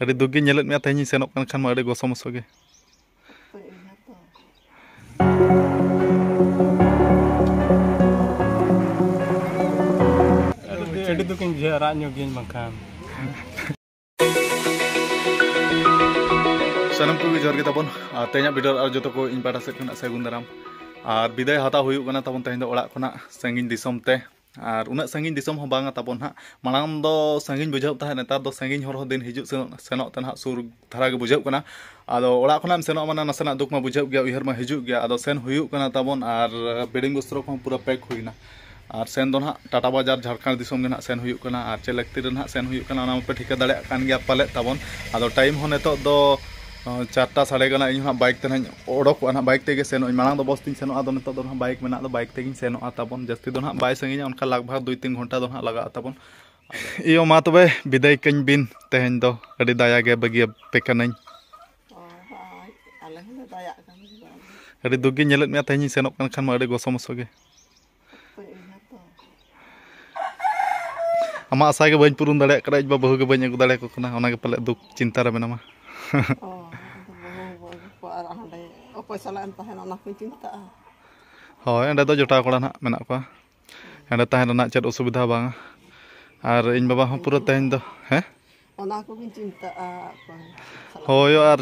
ᱟᱹᱰᱤ ᱫᱩᱠ ᱜᱮ ᱧᱮᱞᱮᱫ ᱢᱮᱭᱟ ᱛᱮᱦᱮᱧ ᱥᱮᱱᱚᱜ ᱠᱟᱱ ᱠᱷᱟᱱ ᱢᱟ ᱟᱹᱰᱤ ᱜᱚᱥᱚ ᱢᱚᱥᱚ ᱜᱮ ᱟᱹᱰᱤ ᱫᱩᱠᱤᱧ ᱵᱩᱡᱷᱟᱹᱣᱟ ᱨᱟᱜ ᱧᱚᱜ ᱜᱤᱭᱟᱹᱧ ᱵᱟᱝᱠᱷᱟᱱ ᱥᱟᱱᱟᱢ ᱠᱚᱜᱮ ᱡᱚᱦᱟᱨ ᱜᱮ ᱛᱟᱵᱚᱱ ᱟᱨ ᱛᱮᱦᱮᱧᱟᱜ ᱵᱷᱤᱰᱤᱭᱳ ᱟᱨ ᱡᱚᱛᱚ ᱠᱚ ᱤᱧ ᱯᱟᱦᱴᱟ ᱥᱮᱫ ᱠᱷᱚᱱᱟᱜ ᱥᱟᱹᱜᱩᱱ ᱫᱟᱨᱟᱢ ᱟᱨ ᱵᱤᱫᱟᱹᱭ ᱦᱟᱛᱟᱣ ᱦᱩᱭᱩᱜ ᱠᱟᱱᱟ ᱛᱟᱵᱚᱱ ᱛᱮᱦᱮᱧ ᱫᱚ ᱚᱲᱟᱜ ᱠᱷᱚᱱᱟᱜ ᱥᱟᱺᱜᱤᱧ ᱫᱤᱥᱚᱢ ᱛᱮ ᱟᱨ ᱩᱱᱟᱹᱜ ᱥᱟᱺᱜᱤᱧ ᱫᱤᱥᱚᱢ ᱦᱚᱸ ᱵᱟᱝᱟ ᱛᱟᱵᱚᱱ ᱦᱟᱸᱜ ᱢᱟᱲᱟᱝ ᱫᱚ ᱥᱟᱺᱜᱤᱧ ᱵᱩᱡᱷᱟᱹᱜ ᱛᱟᱦᱮᱸᱫ ᱱᱮᱛᱟᱨ ᱫᱚ ᱥᱟᱺᱜᱤᱧ ᱦᱚᱨ ᱦᱚᱸ ᱫᱤᱱ ᱦᱤᱡᱩᱜ ᱥᱮᱱᱚᱜ ᱥᱮᱱᱚᱜ ᱛᱮ ᱱᱟᱦᱟᱜ ᱥᱩᱨ ᱫᱷᱟᱨᱟ ᱜᱮ ᱵᱩᱡᱷᱟᱹᱜ ᱠᱟᱱᱟ ᱟᱫᱚ ᱚᱲᱟᱜ ᱠᱷᱚᱱᱟᱜ ᱮᱢ ᱥᱮᱱᱚᱜᱼᱟ ᱢᱟᱱᱮ ᱱᱟᱥᱮᱱᱟᱜ ᱫᱩᱠ ᱢᱟ ᱵᱩᱡᱷᱟᱹᱜ ᱜᱮᱭᱟ ᱩᱭᱦᱟᱹᱨ ᱢᱟ ᱦᱤᱡᱩᱜ ᱜᱮᱭᱟ ᱟᱫᱚ ᱥᱮᱱ ᱦᱩᱭᱩᱜ ᱠᱟᱱᱟ ᱛᱟᱵᱚᱱ ᱟᱨ ᱵᱮᱰᱤᱝ ᱵᱚᱥᱛᱨᱚ ᱠᱚᱦᱚᱸ ᱯᱩᱨᱟᱹ ᱯᱮᱠ ᱦᱩᱭᱱᱟ ᱟᱨ ᱥᱮᱱ ᱫᱚ ᱱᱟᱦᱟᱜ ᱴᱟᱴᱟ ᱵᱟᱡᱟᱨ ᱡᱷᱟᱲᱠᱷᱚᱸᱰ ᱫᱤᱥᱚᱢ ᱜᱮ ᱱᱟᱦᱟᱜ ᱥᱮᱱ ᱦᱩᱭᱩᱜ ᱠᱟᱱᱟ ᱟᱨ ᱪᱮᱫ ᱞᱟᱹᱠᱛᱤ ᱨᱮ ᱱᱟᱦᱟᱜ ᱥᱮᱱ ᱦᱩᱭᱩᱜ ᱠᱟᱱᱟ ᱚᱱᱟ ᱢᱟᱯᱮ ᱴᱷᱤᱠᱟᱹ ᱫᱟᱲᱮᱭᱟᱜ ᱠᱟᱱ ᱜᱮᱭᱟ ᱯᱟᱞᱮᱫ ᱛᱟᱵᱚᱱ ᱟᱫᱚ ᱴᱟᱭᱤᱢ ᱦᱚᱸ ᱱᱤᱛᱚᱜ ᱫᱚ ᱪᱟᱨᱴᱟ ᱥᱟᱲᱮ ᱠᱟᱱᱟ ᱤᱧ ᱦᱟᱸᱜ ᱵᱟᱭᱤᱠ ᱛᱮ ᱦᱟᱸᱜ ᱚᱰᱚᱠᱚᱜᱼᱟ ᱦᱟᱸᱜ ᱵᱟᱭᱤᱠ ᱛᱮᱜᱮ ᱥᱮᱱᱚᱜ ᱟᱹᱧ ᱢᱟᱲᱟᱝ ᱫᱚ ᱵᱚᱥ ᱛᱤᱧ ᱥᱮᱱᱚᱜᱼᱟ ᱟᱫᱚ ᱱᱤᱛᱚᱜ ᱫᱚ ᱦᱟᱸᱜ ᱵᱟᱭᱤᱠ ᱢᱮᱱᱟᱜ ᱫᱚ ᱵᱟᱭᱤᱠ ᱛᱮᱜᱮᱧ ᱥᱮᱱᱚᱜᱼᱟ ᱛᱟᱵᱚᱱ ᱡᱟᱹᱥᱛᱤ ᱫᱚ ᱦᱟᱸᱜ ᱵᱟᱭ ᱥᱟᱺᱜᱤᱧᱟ ᱚᱱᱠᱟ ᱞᱟᱜᱽ ᱵᱷᱟᱜᱽ ᱫᱩᱭ ᱛᱤᱱ ᱜᱷᱚᱱᱴᱟ ᱫᱚ ᱦᱟᱸᱜ ᱞᱟᱜᱟᱜᱼᱟ ᱛᱟᱵᱚᱱ ᱤᱭᱳ ᱢᱟ ᱛᱚᱵᱮ ᱵᱤᱫᱟᱹᱭ ᱠᱟᱹᱧ ᱵᱤᱱ ᱛᱮᱦᱮᱧ ᱫᱚ ᱟᱹᱰᱤ ᱫᱟᱭᱟ ᱜᱮ ᱵᱟᱹᱜᱤ ᱟᱯᱮ ᱠᱟᱹᱱᱟᱹᱧ ᱟᱹᱰᱤ ᱫᱩᱠ ᱜᱮ ᱧᱮᱞᱮᱫ ᱢᱮᱭᱟ ᱛᱮᱦᱮᱧ ᱤᱧ ᱥᱮᱱᱚᱜ ᱠᱟᱱ ᱠᱷᱟᱱ ᱢᱟ ᱟᱹᱰᱤ ᱜᱚᱥᱚ ᱢᱚᱥᱚ ᱜᱮ ᱟᱢᱟᱜ ᱟᱥᱟ ᱜᱮ ᱵᱟᱹᱧ ᱯᱩᱨᱩᱱ ᱫᱟᱲᱮᱭᱟᱜ ᱠᱟᱱᱟ ᱤᱧ ᱵᱟ ᱵᱟᱹᱦᱩ ᱜᱮ ᱵᱟᱹᱧ ᱟᱹᱜᱩ ᱫᱟᱲᱮᱭᱟᱠᱚ ᱠᱟᱱᱟ ᱚᱱᱟ ᱜᱮ ᱯᱟᱞᱮ ᱫᱩᱠ ᱪᱤᱱᱛᱟ ᱨᱮ ᱢᱮᱱᱟᱢᱟ ᱚᱠᱚᱭ ᱥᱟᱞᱟᱜ ᱮᱢ ᱛᱟᱦᱮᱱᱟ ᱚᱱᱟ ᱠᱚᱧ ᱪᱤᱱᱛᱟᱹᱜᱼᱟ ᱦᱳᱭ ᱚᱸᱰᱮ ᱫᱚ ᱡᱚᱴᱟᱣ ᱠᱚᱲᱟ ᱱᱟᱜ ᱢᱮᱱᱟᱜ ᱠᱚᱣᱟ ᱚᱸᱰᱮ ᱛᱟᱦᱮᱱ ᱨᱮᱱᱟᱜ ᱪᱮᱫ ᱚᱥᱩᱵᱤᱫᱷᱟ ᱵᱟᱝᱟ ᱟᱨ ᱤᱧ ᱵᱟᱵᱟ ᱦᱚᱸ ᱯᱩᱨᱟᱹ ᱛᱮᱦᱮᱧ ᱫᱚ ᱦᱮᱸ ᱚᱱᱟ ᱠᱚᱜᱤᱧ ᱪᱤᱱᱛᱟᱹᱜᱼᱟ ᱦᱳᱭ ᱟᱨ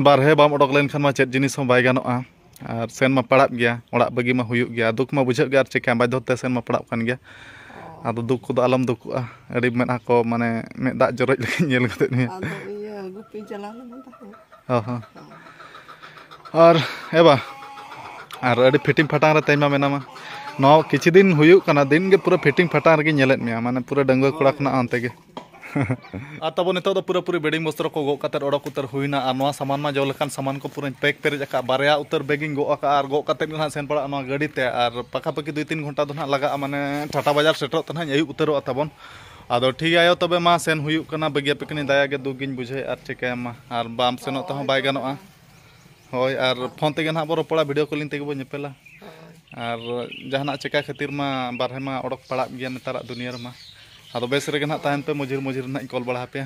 ᱵᱟᱨᱦᱮ ᱵᱟᱢ ᱚᱰᱚᱠ ᱞᱮᱱᱠᱷᱟᱱ ᱢᱟ ᱪᱮᱫ ᱡᱤᱱᱤᱥ ᱦᱚᱸ ᱵᱟᱭ ᱜᱟᱱᱚᱜᱼᱟ ᱟᱨ ᱥᱮᱱ ᱢᱟ ᱯᱟᱲᱟᱜ ᱜᱮᱭᱟ ᱚᱲᱟᱜ ᱵᱟᱹᱜᱤ ᱢᱟ ᱦᱩᱭᱩᱜ ᱜᱮᱭᱟ ᱫᱩᱠ ᱢᱟ ᱵᱩᱡᱷᱟᱹᱜ ᱜᱮᱭᱟ ᱟᱨ ᱪᱮᱠᱟ ᱵᱟᱫᱽᱫᱷᱚ ᱛᱮ ᱥᱮᱱ ᱢᱟ ᱯᱟᱲᱟᱜ ᱠᱟᱱ ᱜᱮᱭᱟ ᱟᱫᱚ ᱫᱩᱠ ᱠᱚᱫᱚ ᱟᱞᱚᱢ ᱫᱩᱠᱩᱜᱼᱟ ᱟᱹᱰᱤ ᱢᱮᱫᱦᱟ ᱠᱚ ᱢᱟᱱᱮ ᱢᱮᱫ ᱫᱟᱜ ᱡᱚᱨᱚᱡ ᱞᱮᱠᱟᱧ ᱧᱮᱞ ᱜᱚᱫᱮᱫ ᱢᱮᱭᱟ ᱟᱫᱚ ᱤᱭᱟᱹ ᱜᱩᱯᱤᱧ ᱪᱟᱞᱟᱣ ᱞᱮᱱᱟ ᱛᱟᱦᱮᱸᱫ ᱚ ᱦᱚᱸ ᱟᱨ ᱮ ᱵᱟ ᱟᱨ ᱟᱹᱰᱤ ᱯᱷᱤᱴᱤᱝ ᱯᱷᱟᱴᱟᱝ ᱨᱮ ᱛᱮᱦᱮᱧ ᱢᱟ ᱢᱮᱱᱟᱢᱟ ᱱᱚᱣᱟ ᱠᱤᱪᱷᱩ ᱫᱤᱱ ᱦᱩᱭᱩᱜ ᱠᱟᱱᱟ ᱫᱤᱱ ᱜᱮ ᱯᱩᱨᱟᱹ ᱯᱷᱤᱴᱤᱝ ᱯᱷᱟᱴᱟᱝ ᱨᱮᱜᱮ ᱧᱮᱞᱮᱫ ᱢᱮᱭᱟ ᱢᱟᱱᱮ ᱯᱩᱨᱟᱹ ᱰᱟᱺᱜᱩᱣᱟᱹ ᱠᱚᱲᱟ ᱠᱷᱚᱱᱟᱜ ᱚᱱᱛᱮ ᱜᱮ ᱟᱨ ᱛᱟᱵᱚ ᱱᱤᱛᱚᱜ ᱫᱚ ᱯᱩᱨᱟᱹ ᱯᱩᱨᱤ ᱵᱮᱰᱤᱝ ᱵᱚᱥᱛᱨᱚ ᱠᱚ ᱜᱚᱜ ᱠᱟᱛᱮᱫ ᱚᱰᱚᱠ ᱩᱛᱟᱹᱨ ᱦᱩᱭᱱᱟ ᱟᱨ ᱱᱚᱣᱟ ᱥᱟᱢᱟᱱ ᱢᱟ ᱡᱚ ᱞᱮᱠᱟᱱ ᱥᱟᱢᱟᱱ ᱠᱚ ᱯᱩᱨᱟᱹᱧ ᱯᱮᱠ ᱯᱮᱨᱮᱡ ᱟᱠᱟᱫ ᱵᱟᱨᱭᱟ ᱩᱛᱟᱹᱨ ᱵᱮᱜᱤᱧ ᱜᱚᱜ ᱟᱠᱟᱫᱼᱟ ᱟᱨ ᱜᱚᱜ ᱠᱟᱛᱮᱫ ᱜᱮ ᱱᱟᱦᱟᱜ ᱥᱮᱱ ᱯᱟᱲᱟᱜᱼᱟ ᱱᱚᱣᱟ ᱜᱟᱹᱰᱤ ᱛᱮ ᱟᱨ ᱯᱟᱠᱷᱟ ᱯᱟᱹᱠᱷᱤ ᱫᱩᱭ ᱛᱤᱱ ᱜᱷᱚᱱᱴᱟ ᱫᱚ ᱱᱟᱦᱟᱜ ᱞᱟᱜᱟᱜᱼᱟ ᱢᱟᱱᱮ ᱴᱟᱴᱟ ᱵᱟᱡᱟᱨ ᱥᱮᱴᱮᱨᱚᱜ ᱛᱮ ᱱᱟᱦᱟᱜ ᱤᱧ ᱟᱹᱭᱩᱵ ᱩᱛᱟᱹᱨᱚᱜᱼᱟ ᱛᱟᱵᱚᱱ ᱟᱫᱚ ᱴᱷᱤᱠ ᱟᱭᱳ ᱛᱚᱵᱮ ᱢᱟ ᱥᱮᱱ ᱦᱩᱭᱩᱜ ᱠᱟᱱᱟ ᱵᱟᱹᱜᱤᱭᱟ ᱯᱮ ᱠᱟᱹᱱᱟᱹᱧ ᱫᱟᱭᱟ ᱜᱮ ᱫᱩᱠ ᱜᱤᱧ ᱵᱩᱡᱷᱟᱹᱣᱮᱫ ᱟᱨ ᱪᱤᱠᱟᱹᱭᱟᱢ ᱢᱟ ᱟᱨ ᱵᱟᱢ ᱥᱮᱱᱚᱜ ᱛᱮᱦᱚᱸ ᱵᱟᱭ ᱜᱟᱱᱚᱜᱼᱟ ᱦᱳᱭ ᱟᱨ ᱯᱷᱳᱱ ᱛᱮᱜᱮ ᱱᱟᱦᱟᱜ ᱵᱚ ᱨᱚᱯᱚᱲᱟ ᱵᱷᱤᱰᱤᱭᱳ ᱠᱚᱞᱤᱝ ᱛᱮᱜᱮ ᱵᱚ ᱧᱮᱯᱮᱞᱟ ᱟᱨ ᱡᱟᱦᱟᱱᱟᱜ ᱪᱤᱠᱟᱹ ᱠᱷᱟᱹᱛᱤᱨ ᱢᱟ ᱵᱟᱨᱦᱮ ᱢᱟ ᱚᱰᱚᱠ ᱯᱟᱲᱟᱜ ᱜᱮᱭᱟ ᱱᱮᱛᱟᱨᱟᱜ ᱫᱩᱱᱤᱭᱟᱹ ᱨᱮᱢᱟ ᱟᱫᱚ ᱵᱮᱥ ᱨᱮᱜᱮ ᱱᱟᱦᱟᱜ ᱛᱟᱦᱮᱱ ᱯᱮ ᱢᱚᱡᱩᱨ ᱢᱚᱡᱩᱨ ᱱᱟᱦᱟᱜ ᱤᱧ ᱠᱚᱞ ᱵᱟᱲᱟ ᱟᱯᱮᱭᱟ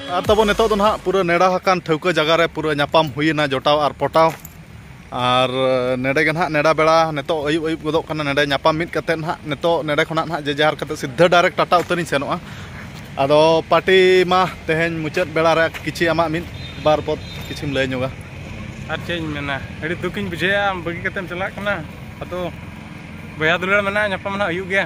ᱟᱨ ᱛᱟᱵᱚ ᱱᱤᱛᱚᱜ ᱫᱚ ᱱᱟᱦᱟᱜ ᱯᱩᱨᱟᱹ ᱱᱮᱰᱟ ᱟᱠᱟᱱ ᱴᱷᱟᱹᱣᱠᱟᱹ ᱡᱟᱭᱜᱟ ᱨᱮ ᱯᱩᱨᱟᱹ ᱧᱟᱯᱟᱢ ᱦᱩᱭᱮᱱᱟ ᱡᱚᱴᱟᱣ ᱟᱨ ᱯᱚᱴᱟᱣ ᱟᱨ ᱱᱮᱰᱮ ᱜᱮ ᱱᱟᱦᱟᱜ ᱱᱮᱰᱟ ᱵᱮᱲᱟ ᱱᱤᱛᱚᱜ ᱟᱹᱭᱩᱵ ᱟᱹᱭᱩᱵ ᱜᱚᱫᱚᱜ ᱠᱟᱱᱟ ᱱᱮᱰᱮ ᱧᱟᱯᱟᱢ ᱢᱤᱫ ᱠᱟᱛᱮ ᱱᱟᱦᱟᱜ ᱱᱤᱛᱚᱜ ᱱᱮᱰᱮ ᱠᱷᱚᱱᱟᱜ ᱱᱟᱦᱟᱜ ᱡᱮ ᱡᱟᱦᱟᱨ ᱠᱟᱛᱮ ᱥᱤᱫᱷᱟᱹ ᱰᱟᱭᱨᱮᱠᱴ ᱴᱟᱴᱟ ᱩᱛᱟᱹᱨᱤᱧ ᱥᱮᱱᱚᱜᱼᱟ ᱟᱫᱚ ᱯᱟᱨᱴᱤ ᱢᱟ ᱛᱮᱦᱮᱧ ᱢᱩᱪᱟᱹᱫ ᱵᱮᱲᱟ ᱨᱮ ᱠᱤᱪᱷᱤ ᱟᱢᱟᱜ ᱢᱤᱫ ᱵᱟᱨ ᱯᱚᱫ ᱠᱤᱪᱷᱤᱢ ᱞᱟᱹᱭ ᱧᱚᱜᱟ ᱟᱨ ᱪᱮᱫ ᱤᱧ ᱢᱮᱱᱟ ᱟᱹᱰᱤ ᱫᱩᱠ ᱤᱧ ᱵᱩᱡᱷᱟᱹᱣᱮᱜᱼᱟ ᱟᱢ ᱵᱟᱹᱜᱤ ᱠᱟᱛᱮᱢ ᱪᱟᱞᱟᱜ ᱠᱟᱱᱟ ᱟᱫᱚ ᱵᱚᱭᱦᱟ ᱫᱩᱞᱟᱹᱲ ᱢᱮᱱᱟᱜᱼᱟ ᱧᱟᱯᱟᱢ ᱱᱟᱦᱟᱜ ᱦᱩᱭᱩᱜ ᱜᱮᱭᱟ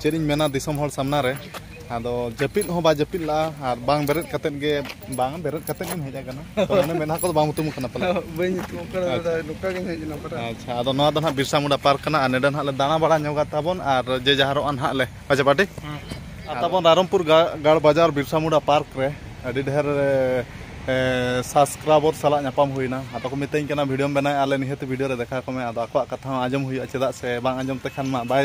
ᱪᱮᱫ ᱤᱧ ᱢᱮᱱᱟ ᱫᱤᱥᱚᱢ ᱦᱚᱲ ᱥᱟᱢᱱᱟ ᱨᱮ ᱟᱫᱚ ᱡᱟᱹᱯᱤᱫ ᱦᱚᱸ ᱵᱟᱭ ᱡᱟᱹᱯᱤᱫ ᱞᱟᱜᱼᱟ ᱟᱨ ᱵᱟᱝ ᱵᱮᱨᱮᱫ ᱠᱟᱛᱮ ᱜᱮ ᱵᱟᱝ ᱵᱮᱨᱮᱫ ᱠᱟᱛᱮ ᱜᱮᱢ ᱦᱮᱡ ᱟᱠᱟᱱᱟ ᱛᱚ ᱢᱟᱱᱮ ᱢᱮᱱᱟ ᱠᱚᱫᱚ ᱵᱟᱢ ᱩᱛᱩᱢ ᱠᱟᱱᱟ ᱯᱟᱞᱮ ᱵᱟᱹᱧ ᱩᱛᱩᱢ ᱠᱟᱱᱟ ᱫᱟᱫᱟ ᱱᱚᱝᱠᱟ ᱜᱤᱧ ᱦᱮᱡ ᱮᱱᱟ ᱯᱟᱞᱮ ᱟᱪᱪᱷᱟ ᱟᱫᱚ ᱱᱚᱣᱟ ᱫᱚ ᱱᱟᱦᱟᱜ ᱵᱤᱨᱥᱟ ᱢᱩᱱᱰᱟ ᱯᱟᱨᱠ ᱠᱟᱱᱟ ᱟᱨ ᱱᱮᱰᱮ ᱱᱟᱦᱟᱜ ᱞᱮ ᱫᱟᱬᱟ ᱵᱟᱲᱟ ᱧᱚᱜᱟ ᱛᱟᱵᱚᱱ ᱟᱨ ᱡᱮ ᱡᱟᱦᱟᱨᱚᱜᱼᱟ ᱱᱟᱦᱟᱜ ᱞᱮ ᱟᱪᱪᱷᱟ ᱯᱟᱴᱤ ᱟᱨ ᱛᱟᱵᱚᱱ ᱨᱟᱭᱨᱚᱢᱯᱩᱨ ᱜᱟᱲ ᱵᱟᱡᱟᱨ ᱵᱤᱨᱥᱟ ᱢᱩᱱᱰᱟ ᱯᱟᱨᱠ ᱨᱮ ᱟᱹᱰᱤ ᱰᱷᱮᱨ ᱥᱟᱵᱥᱠᱨᱟᱭᱵᱚᱨ ᱥᱟᱞᱟᱜ ᱧᱟᱯᱟᱢ ᱦᱩᱭᱱᱟ ᱟᱫᱚ ᱠᱚ ᱢᱤᱛᱟᱹᱧ ᱠᱟᱱᱟ ᱵᱷᱤᱰᱤᱭᱳᱢ ᱵᱮᱱᱟᱣᱮᱫᱼᱟ ᱟᱞᱮ ᱱᱤᱦᱟᱹᱛ ᱵᱷᱤᱰᱤᱭᱳ ᱨᱮ ᱫᱮᱠᱷᱟᱣ ᱠᱚᱢᱮ ᱟᱫᱚ ᱟᱠᱚᱣᱟᱜ ᱠᱟᱛᱷᱟ ᱦᱚᱸ ᱟᱸᱡᱚᱢ ᱦᱩᱭᱩᱜᱼᱟ ᱪᱮᱫᱟᱜ ᱥᱮ ᱵᱟᱝ ᱟᱸᱡᱚᱢ ᱛᱮᱠᱷᱟᱱ ᱢᱟ ᱵᱟᱭ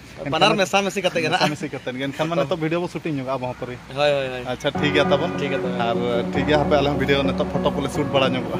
ᱵᱟᱱᱟᱨ ᱢᱮᱥᱟ ᱢᱮᱥᱤ ᱠᱟᱛᱮ ᱜᱮ ᱱᱟᱜ ᱢᱮᱥᱟ ᱠᱟᱛᱮ ᱜᱮ ᱮᱱᱠᱷᱟᱱ ᱢᱟᱱᱮ ᱱᱤᱛᱚᱜ ᱵᱷᱤᱰᱤᱭᱳ ᱵᱚ ᱥᱩᱴᱤᱝ ᱧᱚᱜᱟ ᱟᱵᱚ ᱦᱚᱸ ᱯᱟᱹᱨᱤ ᱦᱳᱭ ᱦᱳᱭ ᱦᱳᱭ ᱟᱪᱪᱷᱟ ᱴᱷᱤᱠ ᱜᱮᱭᱟ ᱛᱟᱵᱚᱱ ᱴᱷᱤᱠ ᱜᱮᱭᱟ ᱛᱚᱵᱮ ᱟᱨ ᱴᱷᱤᱠ ᱜᱮᱭᱟ ᱦᱟᱯᱮ ᱟᱞᱮ ᱦᱚᱸ ᱵᱷᱤᱰᱤᱭᱳ ᱱᱤᱛᱚᱜ ᱯᱷᱳᱴᱳ ᱠᱚᱞᱮ ᱥᱩᱴ ᱵᱟᱲᱟ ᱧᱚᱜᱚᱜᱼᱟ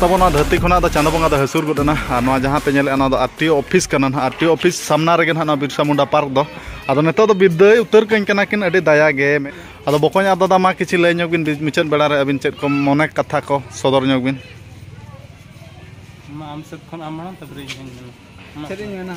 ᱛᱟᱵᱚᱱᱟ ᱫᱷᱟᱹᱨᱛᱤ ᱠᱷᱚᱱᱟᱜ ᱫᱚ ᱪᱟᱸᱫᱚ ᱵᱚᱸᱜᱟ ᱫᱚ ᱦᱟᱹᱥᱩᱨ ᱜᱚᱫ ᱮᱱᱟ ᱟᱨ ᱱᱚᱣᱟ ᱡᱟᱦᱟᱸ ᱯᱮ ᱧᱮᱞᱮᱫᱼᱟ ᱱᱚᱣᱟ ᱫᱚ ᱟᱨ ᱴᱤ ᱚᱯᱷᱤᱥ ᱠᱟᱱᱟ ᱱᱟᱦᱟᱜ ᱟᱨ ᱴᱤ ᱚᱯᱷᱤᱥ ᱥᱟᱢᱱᱟ ᱨᱮᱜᱮ ᱱᱟᱦᱟᱜ ᱱᱚᱣᱟ ᱵᱤᱨᱥᱟ ᱢᱩᱱᱰᱟ ᱯᱟᱨᱠ ᱫᱚ ᱟᱫᱚ ᱱᱤᱛᱚᱜ ᱫᱚ ᱵᱤᱫᱟᱹᱭ ᱩᱛᱟᱹᱨ ᱠᱟᱹᱧ ᱠᱟᱱᱟ ᱠᱤᱱ ᱟᱹᱰᱤ ᱫᱟᱭᱟ ᱜᱮ ᱟᱫᱚ ᱵᱚᱠᱚᱧ ᱟᱫᱚ ᱫᱟᱢᱟ ᱠᱤᱪᱷᱩ ᱞᱟᱹᱭ ᱧᱚᱜ ᱵᱤᱱ ᱢᱩᱪᱟᱹᱫ ᱵᱮᱲᱟ ᱨᱮ ᱟᱹᱵᱤᱱ ᱪᱮᱫ ᱠᱚ ᱢᱚᱱᱮ ᱠᱟᱛᱷᱟ ᱠᱚ ᱥᱚᱫᱚᱨ ᱧᱚᱜ ᱵᱤᱱ ᱢᱟ ᱟᱢ ᱥᱮᱫ ᱠᱷᱚᱱ ᱟᱢ ᱢᱟᱲᱟᱝ ᱛᱟᱨᱯᱚᱨᱮ ᱤᱧ ᱦᱚᱧ ᱢᱮᱱᱟ ᱪᱮᱫ ᱤᱧ ᱢᱮᱱᱟ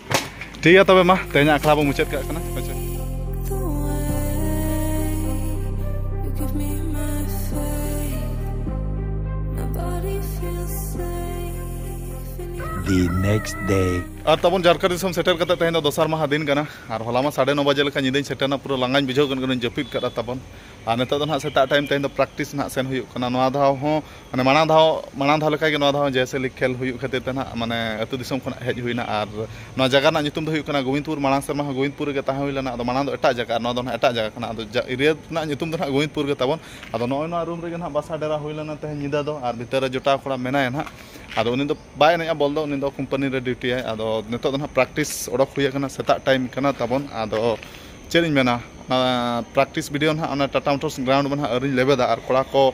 ᱴᱷᱤᱠ ᱜᱮᱭᱟ ᱛᱚᱵᱮ ᱢᱟ ᱛᱮᱦᱮᱧᱟᱜ ᱟᱠᱷᱲᱟ ᱵᱚ ᱢᱩᱪᱟᱹᱫ ᱠᱟᱜ ᱠᱟᱱᱟ ᱟᱪᱪᱷᱟ the next day. ᱟᱨ ᱛᱟᱵᱚᱱ ᱡᱟᱨᱠᱟ ᱫᱤᱥᱚᱢ ᱥᱮᱴᱮᱨ ᱠᱟᱛᱮ ᱛᱮᱦᱮᱧ ᱫᱚ ᱫᱚᱥᱟᱨ ᱢᱟᱦᱟ ᱫᱤᱱ ᱠᱟᱱᱟ ᱟᱨ ᱦᱚᱞᱟ ᱢᱟ ᱥᱟᱲᱮ ᱱᱚ ᱵᱟᱡᱮ ᱞᱮᱠᱟ ᱧᱤᱫᱟᱹᱧ ᱥᱮᱴᱮᱨᱱᱟ ᱯᱩᱨᱟᱹ ᱞᱟᱸᱜᱟᱧ ᱵᱩᱡᱷᱟᱹᱣ ᱠᱟᱱ ᱠᱟᱹᱱᱟᱹᱧ ᱡᱟᱹᱯᱤᱫ ᱠᱟᱫᱟ ᱛᱟᱵᱚᱱ ᱟᱨ ᱱᱤᱛᱚᱜ ᱫᱚ ᱱᱟᱦᱟᱜ ᱥᱮᱛᱟᱜ ᱴᱟᱭᱤᱢ ᱛᱮᱦᱮᱧ ᱫᱚ ᱯᱨᱮᱠᱴᱤᱥ ᱱᱟᱦᱟᱜ ᱥᱮᱱ ᱦᱩᱭᱩᱜ ᱠᱟᱱᱟ ᱱᱚᱣᱟ ᱫᱷᱟᱣ ᱦᱚᱸ ᱢᱟᱱᱮ ᱢᱟᱲᱟᱝ ᱫᱷᱟᱣ ᱢᱟᱲᱟᱝ ᱫᱷᱟᱣ ᱞᱮᱠᱟᱜᱮ ᱱᱚᱣᱟ ᱫᱷᱟᱣ ᱦᱚᱸ ᱡᱚᱭ ᱥᱮ ᱞᱤᱜᱽ ᱠᱷᱮᱞ ᱦᱩᱭᱩᱜ ᱠᱷᱟᱹᱛᱤᱨ ᱛᱮ ᱦᱟᱸᱜ ᱢᱟᱱᱮ ᱟᱛᱳ ᱫᱤᱥᱚᱢ ᱠᱷᱚᱱᱟᱜ ᱦᱮᱡ ᱦᱩᱭᱱᱟ ᱟᱨ ᱱᱚᱣᱟ ᱡᱟᱭᱜᱟ ᱨᱮᱱᱟᱜ ᱧᱩᱛᱩᱢ ᱫᱚ ᱦᱩᱭᱩᱜ ᱠᱟᱱᱟ ᱜᱳᱵᱤᱱᱫᱽᱯᱩᱨ ᱢᱟᱲᱟᱝ ᱥᱮᱨᱢᱟ ᱦᱚᱸ ᱜᱳᱵᱤᱱᱫᱽᱯᱩᱨ ᱨᱮᱜᱮ ᱛᱟᱦᱮᱸ ᱦᱩᱭ ᱞᱮᱱᱟ ᱟᱫᱚ ᱢᱟᱲᱟᱝ ᱫᱚ ᱮᱴᱟᱜ ᱡᱟᱭᱜᱟ ᱟᱨ ᱱᱚᱣᱟ ᱫᱚ ᱦᱟᱸᱜ ᱮᱴᱟᱜ ᱡᱟᱭᱜᱟ ᱠᱟᱱᱟ ᱟᱫᱚ ᱮᱨᱤᱭᱟ ᱨᱮᱱᱟᱜ ᱧᱩᱛᱩᱢ ᱫᱚ ᱦᱟᱸᱜ ᱜᱳᱵᱤᱱᱫᱽᱯᱩᱨ ᱜᱮ ᱛᱟᱵᱚᱱ ᱟᱫᱚ ᱱᱚᱜᱼᱚᱭ ᱱᱚᱣᱟ ᱨᱩᱢ ᱨᱮᱜᱮ ᱦᱟᱸᱜ ᱵᱟᱥᱟ ᱰᱮᱨᱟ ᱦᱩᱭ ᱞᱮᱱᱟ ᱛᱮᱦᱮᱧ ᱧᱤᱫᱟᱹ ᱫᱚ ᱟᱨ ᱵᱷᱤᱛᱟᱹᱨ ᱨᱮ ᱡᱚᱴᱟᱣ ᱠᱚᱲᱟ ᱢᱮᱱᱟᱭᱟ ᱦᱟᱸᱜ ᱟᱫᱚ ᱩᱱᱤ ᱫᱚ ᱵᱟᱭ ᱮᱱᱮᱡᱼᱟ ᱵᱚᱞ ᱫᱚ ᱩᱱᱤ ᱫᱚ ᱠᱳᱢᱯᱟᱱᱤ ᱨᱮ ᱰᱤᱭᱩᱴᱤᱭᱟᱭ ᱟᱫᱚ ᱱᱤᱛᱚᱜ ᱫᱚ ᱦᱟᱸᱜ ᱯᱨᱮᱠᱴᱤᱥ ᱚᱰᱚᱠ ᱦᱩᱭ ᱠᱟᱱᱟ ᱥᱮᱛᱟᱜ ᱴᱟᱭᱤᱢ ᱠᱟᱱᱟ ᱛᱟᱵᱚᱱ ᱟᱫᱚ ᱪᱮᱫ ᱤᱧ ᱢᱮᱱᱟ ᱯᱨᱮᱠᱴᱤᱥ ᱵᱷᱤᱰᱤᱭᱳ ᱦᱟᱸᱜ ᱚᱱᱟ ᱴᱟᱴᱟ ᱢᱳᱴᱚᱨᱥ ᱜᱨᱟᱣᱩᱱᱰ ᱨᱮ ᱦᱟᱸᱜ ᱟᱹᱣᱨᱤᱧ ᱞᱮᱵᱮᱫᱟ ᱟᱨ ᱠᱚᱲᱟ ᱠᱚ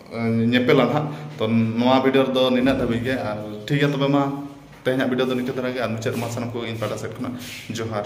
ᱧᱮᱯᱮᱞᱟ ᱱᱟᱦᱟᱜ ᱛᱚ ᱱᱚᱣᱟ ᱵᱷᱤᱰᱤᱭᱳ ᱨᱮᱫᱚ ᱱᱤᱱᱟᱹᱜ ᱫᱷᱟᱹᱵᱤᱡ ᱜᱮ ᱟᱨ ᱴᱷᱤᱠ ᱜᱮᱭᱟ ᱛᱚᱵᱮ ᱢᱟ ᱛᱮᱦᱮᱧᱟᱜ ᱵᱷᱤᱰᱤᱭᱳ ᱫᱚ ᱱᱤᱝᱠᱟᱹ ᱫᱷᱟᱨᱟ ᱜᱮ ᱟᱨ ᱢᱩᱪᱟᱹᱫ ᱨᱮᱢᱟ ᱥᱟᱱᱟᱢ ᱠᱚᱜᱮ ᱤᱧ ᱯᱟᱦᱴᱟ ᱥᱮᱫ ᱠᱷᱚᱱᱟᱜ ᱡᱚᱦᱟᱨ